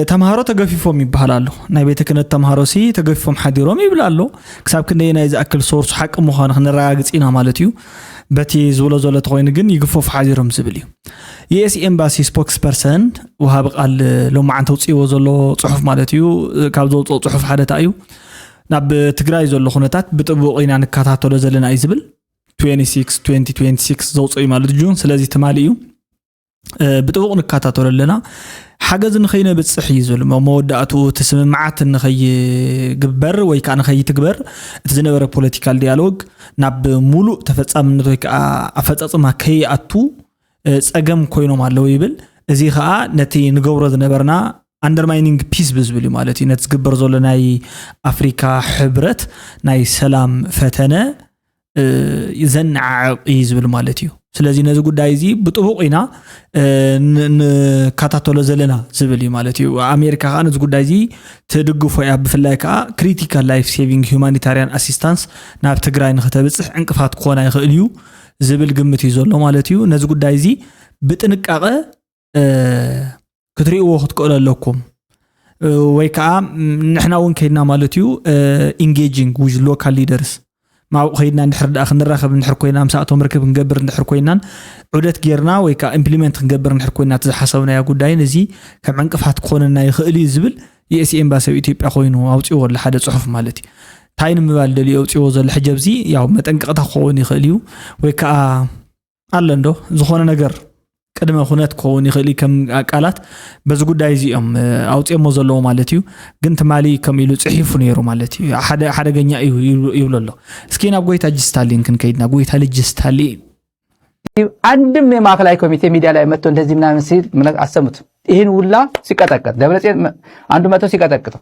S1: ተምሃሮ ተገፊፎም ይበሃል ኣሎ ናይ ቤተ ክህነት ተምሃሮ ሲ ተገፊፎም ሓዲሮም ይብል ኣሎ ክሳብ ክንደይ ናይ ዝኣክል ሶርሱ ሓቂ ምዃኑ ክንረጋግፅ ኢና ማለት እዩ በቲ ዝብሎ ዘሎ ተኮይኑ ግን ይግፈፉ ሓዲሮም ዝብል እዩ ዩኤስ ኤምባሲ ስፖክስ ፐርሰን ውሃቢ ቃል ሎማዓንቲ ውፅእዎ ዘሎ ፅሑፍ ማለት እዩ ካብ ዘውፅኦ ፅሑፍ ሓደታ እዩ ናብ ትግራይ ዘሎ ኩነታት ብጥቡቅ ኢና ንከታተሎ ዘለና እዩ ዝብል 2026 ዘውፅኦ እዩ ማለት ጁን ስለዚ ትማሊ እዩ ብጥቡቕ ንከታተሎ ኣለና ሓገዝ ንኸይነብፅሕ እዩ ዝብል እሞ መወዳእትኡ እቲ ስምምዓት ንኸይግበር ወይ ከዓ ንኸይትግበር እቲ ዝነበረ ፖለቲካል ዲያሎግ ናብ ሙሉእ ተፈፃምነት ወይ ከዓ ኣፈፃፅማ ከይኣቱ ፀገም ኮይኖም ኣለዉ ይብል እዚ ከዓ ነቲ ንገብሮ ዝነበርና ኣንደርማይኒንግ ፒስ ብዝብል እዩ ማለት እዩ ነቲ ዝግበር ዘሎ ናይ ኣፍሪካ ሕብረት ናይ ሰላም ፈተነ ዘነዓዕቕ እዩ ዝብል ማለት እዩ ስለዚ ነዚ ጉዳይ እዚ ብጥቡቕ ኢና ንከታተሎ ዘለና ዝብል እዩ ማለት እዩ ኣሜሪካ ከዓ ነዚ ጉዳይ እዚ ትድግፎ እያ ብፍላይ ከዓ ክሪቲካል ላይፍ ሴቪንግ ሁማኒታርያን ኣሲስታንስ ናብ ትግራይ ንክተብፅሕ ዕንቅፋት ክኾና ይኽእል እዩ ዝብል ግምት እዩ ዘሎ ማለት እዩ ነዚ ጉዳይ እዚ ብጥንቃቐ ክትሪእዎ ክትክእሉ ኣለኩም ወይ ከዓ ንሕና እውን ከይድና ማለት እዩ ኢንጌጂንግ ዊዝ ሎካል ሊደርስ ማብኡ ከይድና እንድሕር ድኣ ክንራኸብ እንድሕር ኮይና ምሳእቶም ርክብ ክንገብር እንድሕር ኮይናን ዑደት ጌርና ወይ ከዓ ኢምፕሊመንት ክንገብር እንድሕር ኮይና እቲ ዝሓሰብናዮ ጉዳይን እዚ ከም ዕንቅፋት ክኾነና ይኽእል እዩ ዝብል የኤስ ኤምባሲ ኣብ ኢትዮጵያ ኮይኑ ኣውፅዎ ኣሎ ሓደ ፅሑፍ ማለት እዩ እንታይ ንምባል ደልዮ ኣውፅዎ ዘሎ ሕጂ ኣብዚ ያው መጠንቀቕታ ክኸውን ይኽእል እዩ ወይ ከዓ ኣለ እንዶ ዝኾነ ነገር ቅድመ ኩነት ክኸውን ይኽእል ከም ቃላት በዚ ጉዳይ እዚ እዮም ኣውፅኦሞ ዘለዎ ማለት እዩ ግን ትማሊ ከም ኢሉ ፅሒፉ ነይሩ ማለት እዩ ሓደ ሓደገኛ እዩ ይብሎ ኣሎ እስኪ ናብ ጎይታ ልጅ ስታሊን ክንከይድና ጎይታ ልጅ ስታሊን
S13: አንድም የማዕከላዊ ኮሚቴ ሚዲያ ላይ መጥቶ እንደዚህ ምናምን ሲል አሰሙት። ይህን ሁላ ሲቀጠቅጥ ደብረጽዮን አንዱ መጥቶ ሲቀጠቅጠው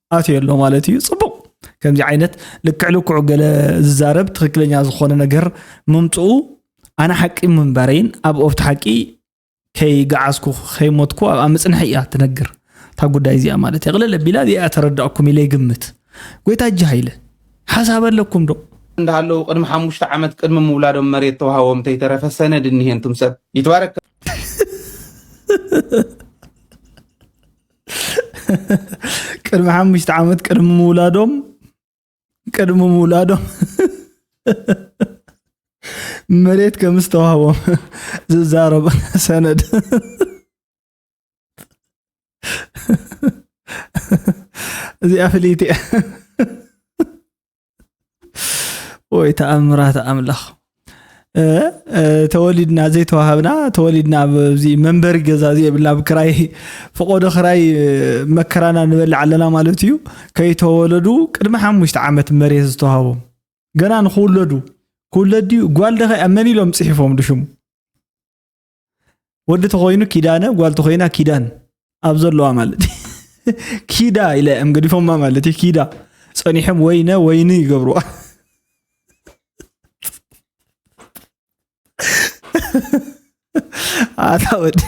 S1: ኣትዮ ኣሎ ማለት እዩ ፅቡቅ ከምዚ ዓይነት ልክዕ ልክዑ ገለ ዝዛረብ ትክክለኛ ዝኮነ ነገር ምምፅኡ ኣነ ሓቂ ምንባረይን ኣብ ኦፍቲ ሓቂ ከይገዓዝኩ ከይሞትኩ ኣብኣ ምፅንሐ እያ ትነግር እታ ጉዳይ እዚኣ ማለት እያ ቅልል ኣቢላ እዚኣ ተረዳእኩም ኢለ ይግምት ጎይታ እጅ ሃይለ ሓሳብ ኣለኩም ዶ እንዳሃለዉ ቅድሚ
S14: ሓሙሽተ ዓመት ቅድሚ ምውላዶም መሬት ተዋሃቦም እንተይተረፈ ሰነድ እኒሄ እንቱም ሰብ ይትባረክ
S1: ቅድሚ ሓሙሽተ ዓመት ቅድሚ ምውላዶም ቅድሚ ምውላዶም መሬት ከም ዝተዋህቦም ዝዛረብ ሰነድ እዚኣ ፍልይቲ እያ ወይ ተኣምራት ኣምላኽ ተወሊድና ዘይተዋሃብና ተወሊድና ኣብዚ መንበሪ ገዛ ዘየብልና ኣብ ክራይ ፈቆዶ ክራይ መከራና ንበልዕ ኣለና ማለት እዩ ከይተወለዱ ቅድሚ ሓሙሽተ ዓመት መሬት ዝተዋሃቦም ገና ንክውለዱ ክውለድ ድዩ ጓል ደኸ መን ኢሎም ፅሒፎም ድሽሙ ወዲ ተኮይኑ ኪዳነ ጓል ተኮይና ኪዳን ኣብ ዘለዋ ማለት ኪዳ ኢለ እዮም ገዲፎማ ማለት እዩ ኪዳ ፀኒሖም ወይነ ወይኒ ይገብርዋ ኣታ ወዲ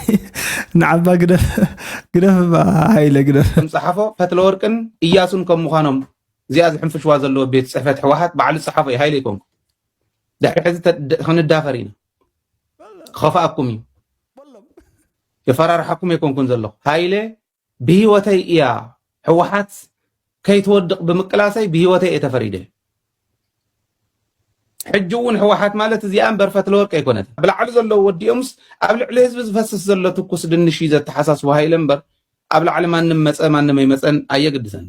S1: ንዓባ ግደፍ ግደፍ ሃይለ ግደፍ ከም ፀሓፎ ፈትለ
S14: ወርቅን እያሱን ከም ምዃኖም እዚኣ ዝሕንፍሽዋ ዘለዎ ቤት ፅሕፈት ሕወሓት ባዕሉ ዝፀሓፎ እዩ ሃይለ ይኮንኩ ድሕሪ ሕዚ ክንዳፈር ኢና ክኸፍኣኩም እዩ የፈራርሓኩም ኣይኮንኩን ዘለኹ ሃይለ ብሂወተይ እያ ሕወሓት ከይትወድቕ ብምቅላሰይ ብሂወተይ እየ ተፈሪደ ሕጂ እውን ሕወሓት ማለት እዚኣ እምበር ፈትለወርቂ ኣይኮነት ብላዕሊ ዘለዉ ወዲኦምስ ኣብ ልዕሊ ህዝቢ ዝፈስስ ዘሎ ትኩስ ድንሽ እዩ ዘተሓሳስቡ ሃይለ እምበር ኣብ ላዕሊ ማንም መፀ ማንም ኣይመፀን ኣየግድሰኒ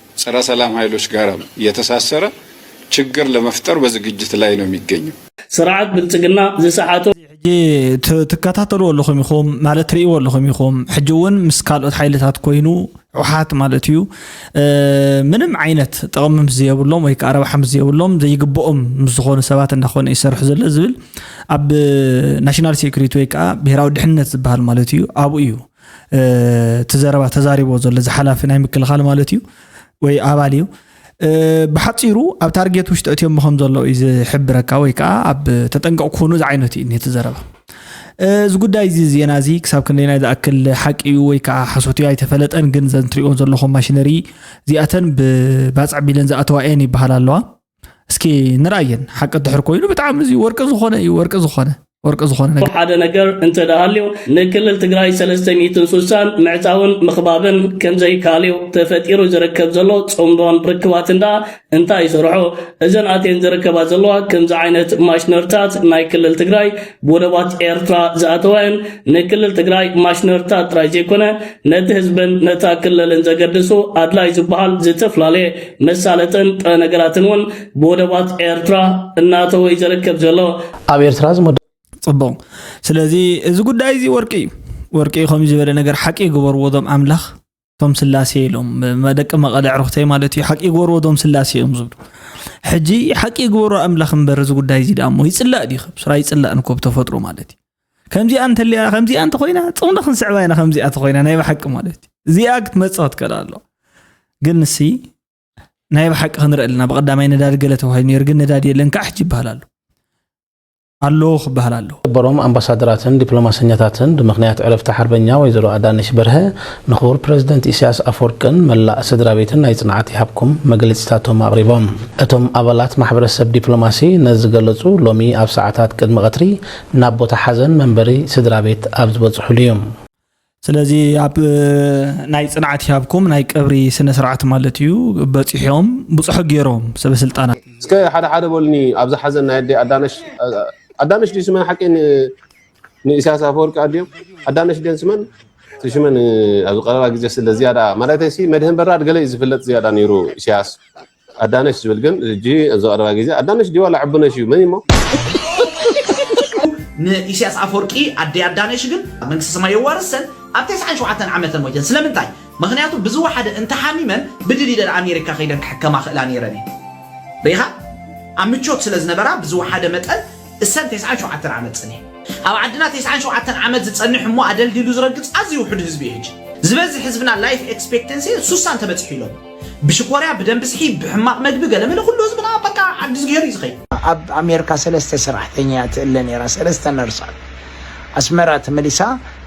S15: ጸረ ሰላም ሀይሎች ጋር የተሳሰረ ችግር ለመፍጠር በዝግጅት ላይ ነው የሚገኘው። ስርዓት ብልጽግና
S6: ዝሰሓቶ ሕጂ
S1: ትከታተልዎ ኣለኹም ኢኹም ማለት ትርእይዎ ኣለኹም ኢኹም ሕጂ እውን ምስ ካልኦት ሓይልታት ኮይኑ ውሓት ማለት እዩ ምንም ዓይነት ጥቕሚ ምስ ዘየብሎም ወይ ከዓ ረብሓ ምስ ዘየብሎም ዘይግብኦም ምስ ዝኾኑ ሰባት እንዳኾነ ይሰርሑ ዘሎ ዝብል ኣብ ናሽናል ሴኩሪቲ ወይ ከዓ ብሄራዊ ድሕነት ዝበሃል ማለት እዩ ኣብኡ እዩ እቲ ዘረባ ተዛሪቦ ዘሎ እዚ ሓላፊ ናይ ምክልኻል ማለት እዩ ወይ ኣባል እዩ ብሓፂሩ ኣብ ታርጌት ውሽጢ እትዮም ከም ዘሎ እዩ ዝሕብረካ ወይ ከዓ ኣብ ተጠንቀቕ ክኾኑ ዝዓይነቱ እዩ ነቲ ዘረባ እዚ ጉዳይ እዚ ዜና እዚ ክሳብ ክንደይናይ ዝኣክል ሓቂ እዩ ወይ ከዓ ሓሶት እዩ ኣይተፈለጠን ግን ዘንትሪኦን ዘለኹም ማሽነሪ እዚኣተን ብባፅዕ ቢለን ዝኣተዋ እየን ይበሃል ኣለዋ እስኪ ንርኣየን ሓቂ ድሕር ኮይኑ ብጣዕሚ እዚ ወርቂ ዝኾነ እዩ ወርቂ ዝኾነ ወርቂ ዝኾነ ነገር ሓደ ነገር እንተደሃልዩ
S6: ንክልል ትግራይ 360 ምዕፃውን ምኽባብን ከምዘይካልዩ ተፈጢሩ ዝርከብ ዘሎ ፅምዶን ርክባት እንዳ እንታይ ይሰርሖ እዘን ኣቴን ዝርከባ ዘለዋ ከምዚ ዓይነት ማሽነርታት ናይ ክልል ትግራይ ብወደባት ኤርትራ ዝኣተዋየን ንክልል ትግራይ ማሽነርታት ጥራይ ዘይኮነ ነቲ ህዝብን ነታ ክልልን ዘገድሱ ኣድላይ ዝበሃል ዝተፈላለየ መሳለጥን ጥረ ነገራትን እውን ብወደባት ኤርትራ እናተወ እዩ ዘርከብ ዘሎ ኣብ ኤርትራ ዝመደ
S10: ፅቡቕ
S1: ስለዚ እዚ ጉዳይ እዚ ወርቂ እዩ ወርቂ እዩ ከምዚ ዝበለ ነገር ሓቂ ይግበርዎ ዞም ኣምላኽ እቶም ስላሴ ኢሎም መደቂ መቐለ ዕርኽተይ ማለት እዩ ሓቂ ይግበርዎ ዞም ስላሴ እዮም ዝብሉ ሕጂ ሓቂ ይግበሩ ኣምላኽ እምበር እዚ ጉዳይ እዚ ዳሞ ይፅላእ ዲ ከብስራ ይፅላእ ንኮብ ተፈጥሮ ማለት እዩ ከምዚኣ እንተልያ ከምዚኣ እንተኮይና ፅምዶ ክንስዕባ ኢና ከምዚኣ ተኮይና ናይ ብሓቂ ማለት እዩ እዚኣ ክትመፅእ ክትከል ኣሎ ግን ንሲ ናይ ብሓቂ ክንርኢ ኣለና ብቀዳማይ ነዳዲ ገለ ተባሂሉ ነይሩ ግን ነዳዲ የለን ከዓ ሕጂ ይበሃል ኣሎ ኣለዎ ክበሃል ኣለዎ በሮም ኣምባሳደራትን
S10: ዲፕሎማሰኛታትን ብምክንያት ዕረፍቲ ሓርበኛ ወይዘሮ ኣዳነሽ በርሀ ንክቡር ፕረዚደንት ኢሳያስ ኣፈወርቅን መላእ ስድራ ቤትን ናይ ጽንዓት ይሃብኩም መግለጺታቶም ኣቕሪቦም እቶም ኣባላት ማሕበረሰብ ዲፕሎማሲ ነዚ ገለጹ ሎሚ ኣብ ሰዓታት ቅድሚ ቀትሪ ናብ ቦታ ሓዘን መንበሪ ስድራቤት ኣብ ዝበጽሑሉ እዩ። ስለዚ
S1: ኣብ ናይ ጽንዓት ይሃብኩም ናይ ቀብሪ ስነ ስርዓት ማለት እዩ በጺሖም ብጽሑ ጌሮም ሰበ ስልጣናት። እስከ ሓደ ሓደ
S10: በሉኒ ኣብዛ ሓዘን ናይ ኣደይ ኣዳነሽ ኣዳነሽ ድዩ ስመን ሓቂ ን ኢሳያስ ኣፈወርቂ ኣዲኡ ኣዳነሽ ድየን ስመን እቲ ሽመን ኣብዚ ቀረባ ግዜ ስለ ዝያዳ ማለተይሲ መድህን በራድ ገለ እዩ ዝፍለጥ ዝያዳ ነይሩ ኢሳያስ ኣዳነሽ ዝብል ግን ሕጂ እዚ ቀረባ ግዜ ኣዳነሽ ድዩ ዋላ ዕቡነሽ እዩ መን እሞ
S16: ንኢሳያስ ኣፈወርቂ ኣደይ ኣዳነሽ ግን ኣብ መንግስተ ሰማይ የዋርሰን ኣብ ተስዓን ሸውዓተን ዓመተን ሞይተን ስለምንታይ ምክንያቱ ብዝወሓደ እንተሓሚመን ብድል ኢለን ኣሜሪካ ከይደን ክሕከማ ክእላ ነይረን እየን ርኢኻ ኣብ ምቾት ስለ ዝነበራ ብዝወሓደ መጠን እሰን ተስዓን ሸውዓተን ዓመት ጸኒሐን ኣብ ዓድና ተስዓን ሸውዓተን ዓመት ዝጸንሕ እሞ ኣደልዲሉ ዝረግጽ ኣዝዩ ውሑድ ህዝቢ እዩ ሕጂ ዝበዝሕ ህዝብና ላይፍ ኤክስፔክተንሲ ሱሳን ተበጺሑ ኢሎም ብሽኮርያ ብደንቢ ስሒብ ብሕማቅ መግቢ ገለመለ ኩሉ ህዝብና በቃ ዓዲዝግሄር እዩ ዝኸይድ። ኣብ ኣሜርካ
S17: ሰለስተ ሰራሕተኛ እያ ትእለ ነይራ ሰለስተ ነርሳት ኣስመራ ተመሊሳ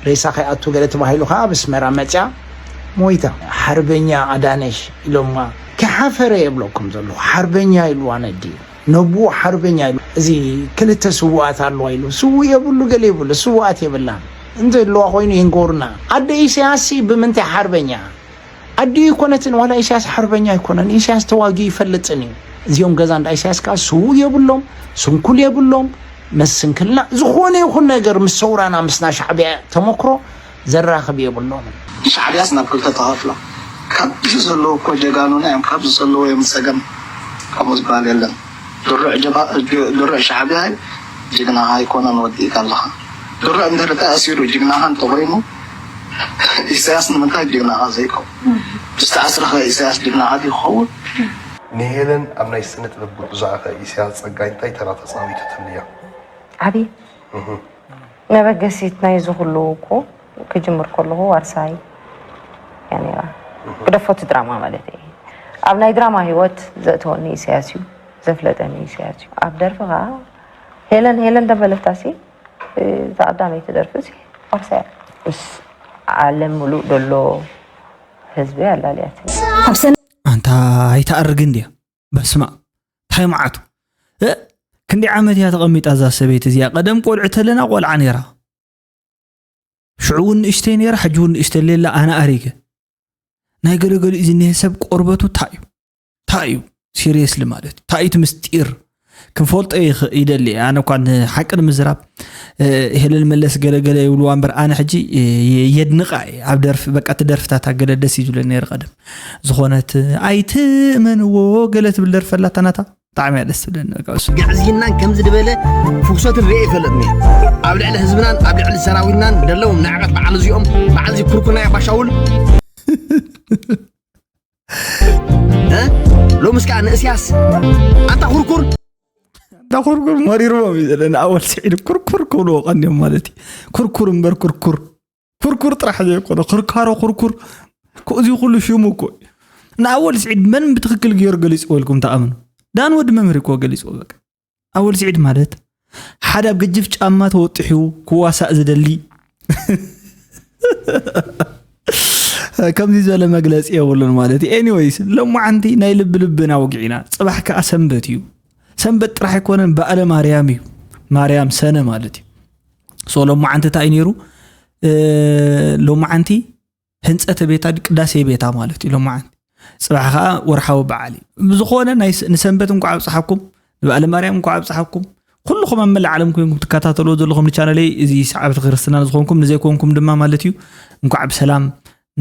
S17: ሬሳ ከይኣቱ ገለ ተባሂሉ ከኣ ኣብ ኣስመራ መጽያ ሞይታ። ሓርበኛ ኣዳነሽ ኢሎማ ከይሓፈረ የብለኩም ዘለኹ ሓርበኛ ኢልዋ ነዲኡ ነቡኡ ሓርበኛ ኢሉ እዚ ክልተ ስውኣት ኣለዋ ኢሉ ስውእ የብሉ ገለ የብሉ ስውኣት የብላን እንተለዋ ኮይኑ ይንገሩና ኣደ ኢሰያስ ሲ ብምንታይ ሓርበኛ ኣዲኡ ኣይኮነትን ዋላ ኢሳያስ ሓርበኛ ኣይኮነን ኢሳያስ ተዋጊኡ ይፈልጥን እዩ እዚኦም ገዛ እንዳ ኢሳያስ ከዓ ስውእ የብሎም ስንኩል የብሎም ምስ ስንክልና ዝኾነ ይኹን ነገር ምስ ሰውራና ምስ ናይ ሻዕቢያ ተመክሮ ዘራኽብ የብሎምን ሻዕቢያስ ናብ
S18: ክልተ ተኸፍሎም ካብዚ ዘለዉ እኮ ጀጋኑና እዮም ካብዚ ዘለዉ እዮም ዝፀገም ከምኡ ዝበሃል የለን ድሩዕ ጀባ ድሩዕ ሻዕቢያ ጅግናኻ ኣይኮነን ወዲእካ ኣለኻ ድሩዕ እንድሕሪ ተኣሲሩ ጅግናኻ እንተኾይኑ ኢሰያስ ንምንታይ ጅግናኻ ዘይከውን? ዝተኣስረኸ ኢሰያስ ጅግናኻ ድዩ ክኸውን? ንሄለን
S11: ኣብ ናይ ስነ-ጥበብ ጉዕዞኣኸ ኢሰያስ ጸጋይ እንታይ ተራ ተጻዊቱትልያ? ዓቢ
S19: መበገሲት ናይ እዚ ኩሉ እኮ ክጅምር ከለኹ ዋርሳይ እያ ነይራ። ግደፎ እቲ ድራማ ማለተይ እየ። ኣብ ናይ ድራማ ህይወት ዘእተወኒ ኢሰያስ እዩ። ዘፍለጠኒ ኢሰያስ እዩ። ኣብ ደርፊ ከኣ ሄለን ሄለን ተበለታሲ እዛ ቀዳመይቲ ደርፊ እዚ ዓርሳያ ምስ ዓለም ሙሉእ ዘሎ ህዝቢ
S1: ኣላልያት ኣንታ ኣይትኣርግ እንድያ በስማም ታይ መዓቱ እ ክንደይ ዓመት እያ ተቐሚጣ እዛ ሰበይቲ እዚኣ ቀደም ቆልዑ ተለና ቆልዓ ነይራ ሽዑ እውን ንእሽተይ ነይራ ሕጂ እውን ንእሽተይ ሌላ ኣነ ኣሪገ ናይ ገለገሊኡ ዝኒሀ ሰብ ቆርበቱ እንታይ እዩ እንታይ እዩ ሲሪየስሊ ማለት እዩ እንታይ እቲ ምስጢር ክንፈልጦ ይደሊ ኣነ እኳ ሓቂ ንምዝራብ ሄለን መለስ ገለገለ ይብልዋ እምበር ኣነ ሕጂ የድንቃ እየ ኣብ ደርፊ በቃ እቲ ደርፍታታ ገለ ደስ እዩ ዝብለ ነይሩ ቀደም ዝኾነት ኣይትእመንዎ ገለ ትብል ደርፊ ኣላታ ናታ ብጣዕሚ እያ ደስ ትብለኒ ግዕዝይናን ከምዚ
S20: ዝበለ ፍጉሰት ርአ ይፈለጥኒ ኣብ ልዕሊ ህዝብናን ኣብ ልዕሊ ሰራዊትናን ዘለዎም ንዕቀት በዓል እዚኦም በዓል እዚ ኩርኩናያ ባሻውል ሎምስ ከዓ ንእስያስ ኣንታ ኩርኩር ኣንታ ኩርኩር መሪርዎም እዩ ዘለ ንኣወል ስዒድ ኩርኩር ክብልዎ ቀንዮም ማለት እዩ ኩርኩር እምበር ኩርኩር ኩርኩር ጥራሕ ዘይኮነ ክርካሮ ኩርኩር እዚ ኩሉ ሽሙ እኮ ንኣወል ስዒድ መን ብትክክል ገይሩ ገሊፅዎ ኢልኩም ተኣምኑ ዳን ወዲ መምህር እኮ ገሊፅዎ በቃ ኣወል ስዒድ ማለት ሓደ ኣብ ግጅፍ ጫማ ተወጢሑ ክዋሳእ ዝደሊ ከምዚ ዝበለ መግለፂ የብሉን ማለት እዩ ኤኒወይስ ሎማዓንቲ ናይ ልቢ ልብና ወግዒና ፅባሕ ከዓ ሰንበት እዩ ሰንበት ጥራሕ ኣይኮነን በዓለ ማርያም እዩ ማርያም ሰነ ማለት እዩ ሶ ሎማዓንቲ እንታይ እዩ ነይሩ ሎማዓንቲ ህንፀተ ቤታ ቅዳሴ ቤታ ማለት እዩ ሎማዓንቲ ፅባሕ ከዓ ወርሓዊ በዓል እዩ ብዝኾነ ንሰንበት እንኳ ኣብፅሓኩም ንበዓለ ማርያም እንኳ ኣብፅሓኩም ኩልኹም ኣብ መላእ ዓለም ኮይንኩም ትከታተልዎ ዘለኹም ንቻነለይ እዚ ሰዓብቲ ክርስትና ዝኾንኩም ንዘይኮንኩም ድማ ማለት እዩ እንኳዕ ብሰላም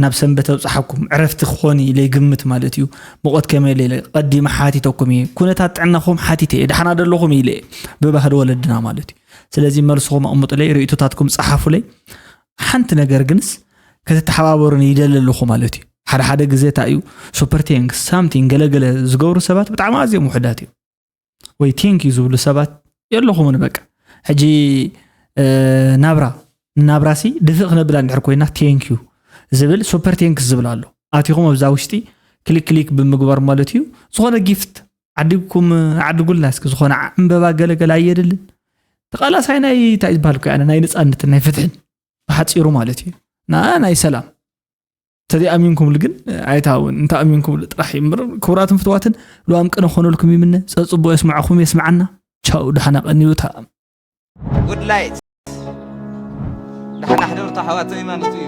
S20: ናብ ሰንበት ኣብፅሓኩም ዕረፍቲ ክኾን ኢለ ይግምት ማለት እዩ ሙቐት ከመይ ኢለ ቀዲመ ሓቲተኩም እየ ኩነታት ጥዕናኹም ሓቲተ እየ ዳሕና ደለኹም ኢለ እየ ብባህሊ ወለድና ማለት እዩ ስለዚ መልስኹም ኣቕምጡለይ ርእቶታትኩም ፀሓፉለይ ሓንቲ ነገር ግንስ ከተተሓባበሩን ይደሊ ኣለኹ ማለት እዩ ሓደ ሓደ ግዜ እታ እዩ ሱፐር ቴንክ ሳምቲንግ ገለገለ ዝገብሩ ሰባት ብጣዕሚ ኣዝዮም ውሕዳት እዩ ወይ ቴንክ እዩ ዝብሉ ሰባት የለኹምን በቃ ሕጂ ናብራ ናብራ ሲ ድፍእ ክነብላ እንድሕር ኮይና ቴንክ እዩ ዝብል ሱፐር ቴንክስ ዝብል ኣሎ ኣቲኹም ኣብዛ ውሽጢ ክሊክ ክሊክ ብምግባር ማለት እዩ ዝኾነ ጊፍት ዓዲግኩም ኣዕድጉልና እስኪ ዝኾነ ዕምበባ ገለገለ ኣየድልን ተቃላሳይ ናይ እንታይ ዝበሃል ኮ ናይ ነፃነትን ናይ ፍትሕን ብሓፂሩ ማለት እዩ ንኣ ናይ ሰላም ተዘይኣሚንኩምሉ ግን ኣይታውን እንተ ኣሚንኩምሉ ጥራሕ እዩ እምበር ክቡራትን ፍትዋትን ልዋም ቅነ ክኾነልኩም ይምነ ፀፅቡቅ የስማዕኹም የስምዓና ቻው ድሓና ቀንዩታ
S21: ጉድ ላይት ድሓና ሕደርታ ኣሕዋተይ ማለት እዩ